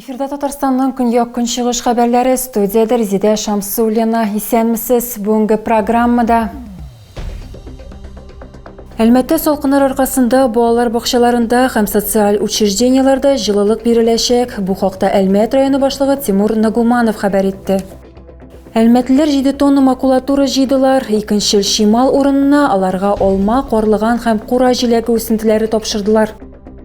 Эфирда Татарстанның көньяк көнчыгыш хәбәрләре студияда Резеда Шамсуллина. Исәнмесез. Бүгенге программада Әлмәттә салкыннар аркасында балалар бакчаларында һәм социаль учреждениеләрдә җылылык биреләчәк. Бу хакта Әлмәт районы башлыгы Тимур Нагуманов хәбәр итте. Әлмәтлеләр 7 тонна макулатура җыйдылар. Икенчел чимал урынына аларга алма, карлыган һәм кура җиләге үсентеләре тапшырдылар.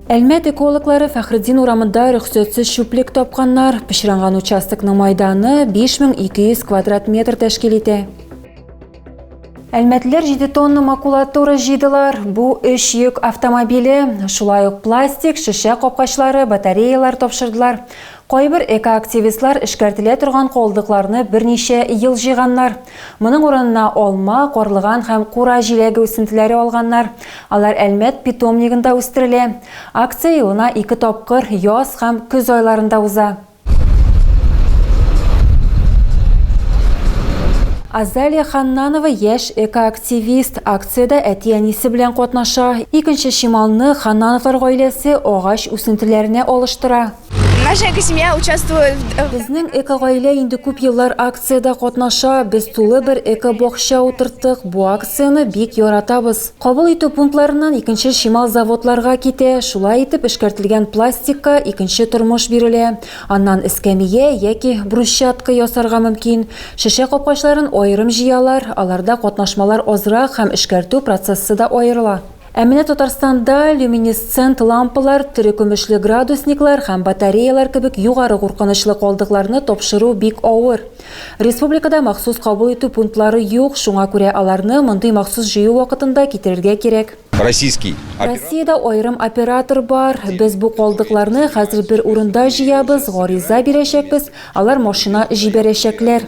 Әлмәт экологлары Фәхреддин урамында рөхсәтсез чүплек тапканнар. Пычранган участокның майданы 5200 квадрат метр тәшкил итә. Әлмәтлеләр 7 тонна макулатура җыйдылар. Бу өч йөк автомобиле, шулай ук пластик, шешә капкачлары, батареялар тапшырдылар. Кайбер экоактивистлар эшкәртелә торган калдыкларны берничә ел җыйганнар. Моның урынына алма, карлыган һәм кура җиләге үсентеләре алганнар. Алар Әлмәт питомнигында үстерелә. Акция елына ике тапкыр, яз һәм көз айларында уза. Азалия Ханнанова яшь экоактивист. Акциядә әти-әнисе белән катнаша. Икенче чималны Ханнановлар гаиләсе агач үсентеләренә алыштыра. Наша экосемья участвует. Безнең экогаилә инде күп еллар акциядә катнаша. Без тулы бер экобакча утырттык. Бу акцияне бик яратабыз. Кабул итү пунктларыннан икенче чимал заводларга китә, шулай итеп эшкәртелгән пластикка икенче тормыш бирелә. Аннан эскәмия яки брусчатка ясарга мөмкин. Шешә капкачларын аерым җыялар, аларда катнашмалар азрак һәм эшкәртү процессы да аерыла. Ә менә Татарстанда люминесцент лампалар, терекөмешле градусниклар һәм батареялар кебек югары куркынычлы калдыкларны тапшыру бик авыр. Республикада махсус кабул итү пунктлары юк, шуңа күрә аларны мондый махсус җыю вакытында китерергә кирәк. Российский оператор. Россиядә аерым оператор бар. Без бу калдыкларны хәзер бер урында җыябыз, гариза бирәчәкбез, алар машина җибәрәчәкләр.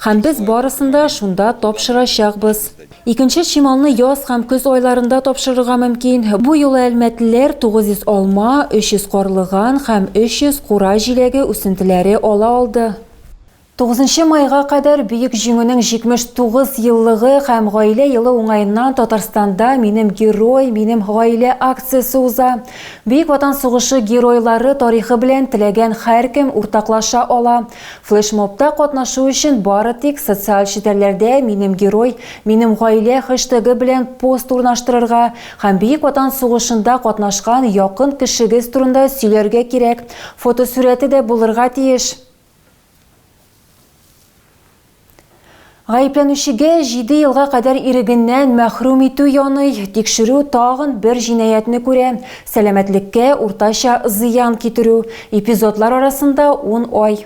Һәм без барысын да шунда тапшырачакбыз. Икенче чималны яз һәм көз айларында тапшырырга мөмкин. Бу юлы әлмәтлеләр 900 алма, 300 карлыган һәм 300 кура җиләге үсентеләре ала алды. Тугызынчы майга кадәр Бөек Җиңүнең 79 еллыгы һәм Гаилә елы уңаеннан Татарстанда Минем герой, минем гаилә акциясе уза. Бөек Ватан сугышы геройлары тарихы белән теләгән һәркем уртаклаша ала. Флешмобта катнашу өчен бары тик социаль челтәрләрдә Минем герой, минем гаилә хэштегы белән пост урнаштырырга һәм Бөек Ватан сугышында катнашкан якын кешегез турында сөйләргә кирәк, Фотосурәте дә булырга тиеш. Гаепләнүчегә 7 елга кадәр ирегеннән мәхрүм итү яный. Тикшерү тагын бер җинаятьне күрә, сәламәтлеккә уртача зыян китерү. Эпизодлар арасында 10 ай.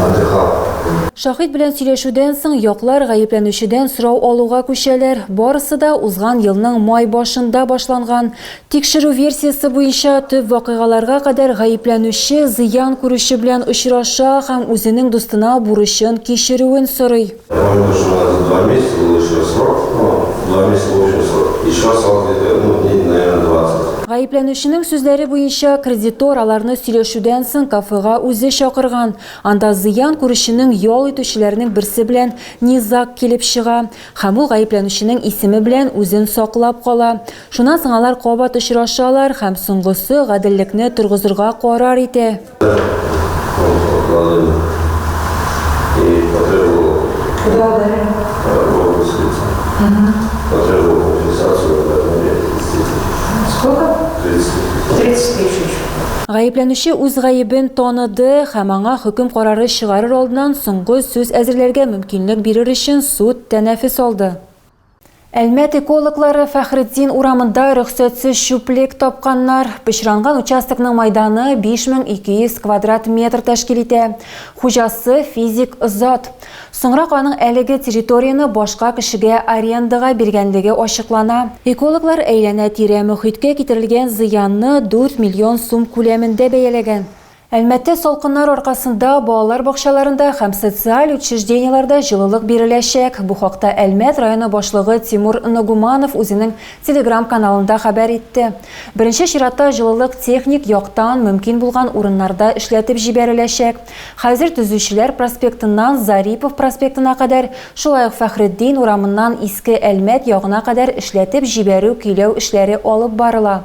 Матихаб. Шаһит белән сөйләшүдән соң яклар гаепләнүчедән сорау алуга күчәләр. Барысы да узган елның май башында башланган. Тикшерү версиясе буенча, төп вакыйгаларга кадәр гаепләнүче зыян күрүче белән очраша һәм үзенең дустына бурычын кичерүен сорый. Гаепләнүченең сүзләре буенча, кредитор аларны сөйләшүдән соң кафега үзе чакырган. Анда зыян күрүченең ял итүчеләренең берсе белән низаг килеп чыга һәм ул гаепләнүченең исеме белән үзен саклап кала. Шуннан соң алар кабат очрашалар һәм соңгысы гаделлекне торгызырга карар итә. Гаепләнүче үз гаебен таныды һәм аңа хөкем карары чыгарыр алдыннан соңгы сүз әзерләргә мөмкинлек бирер өчен суд тәнәфес алды. Әлмәт экологлары Фәхретдин урамында рөхсәтсез чүплек тапканнар. Пычранган участокның майданы 5200 квадрат метр тәшкил итә. Хуҗасы, физик зат. Соңрак аның әлеге территорияне башка кешегә арендага биргәнлеге ачыклана. Экологлар әйләнә-тирә мохиткә китерелгән зыянны 4 миллион сум күләмендә бәяләгән. Әлмәттә салкыннар аркасында балалар бакчаларында һәм социаль учреждениеләрдә җылылык биреләчәк. Бу хакта Әлмәт районы башлыгы Тимур Нагуманов үзенең Телеграм-каналында хәбәр итте. Беренче чиратта җылылык техник яктан мөмкин булган урыннарда эшләтеп җибәреләчәк. Хәзер Төзүчеләр проспектыннан Зарипов проспектына кадәр, шулай ук Фәхретдин урамыннан Иске Әлмәт ягына кадәр эшләтеп җибәрү-көйләү эшләре алып барыла.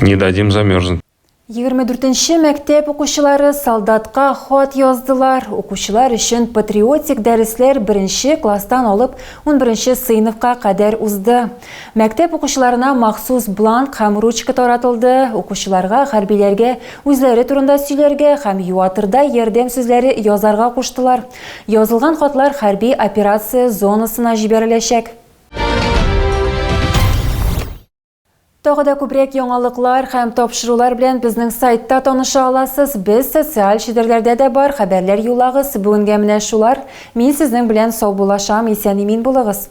Не дадим замерзнуть. 24-нче мәктәп укучылары солдатка хат яздылар. Укучылар өчен патриотик дәресләр беренче класстан алып 11-нче сыйныфка кадәр узды. Мәктәп укучыларына махсус бланк һәм ручка таратылды. Укучыларга хәрбиләргә үзләре турында сөйләргә һәм юатырдай ярдәм сүзләре язарга куштылар. Язылган хатлар хәрби операция зонасына җибәреләчәк. Тагы да күбрәк яңалыклар һәм тапшырулар белән безнең сайтта таныша аласыз. Без социаль челтәрләрдә дә бар, хәбәрләр юлагыз. Бүгенгә менә шулар. Мин сезнең белән сау булашам, исән имин булыгыз.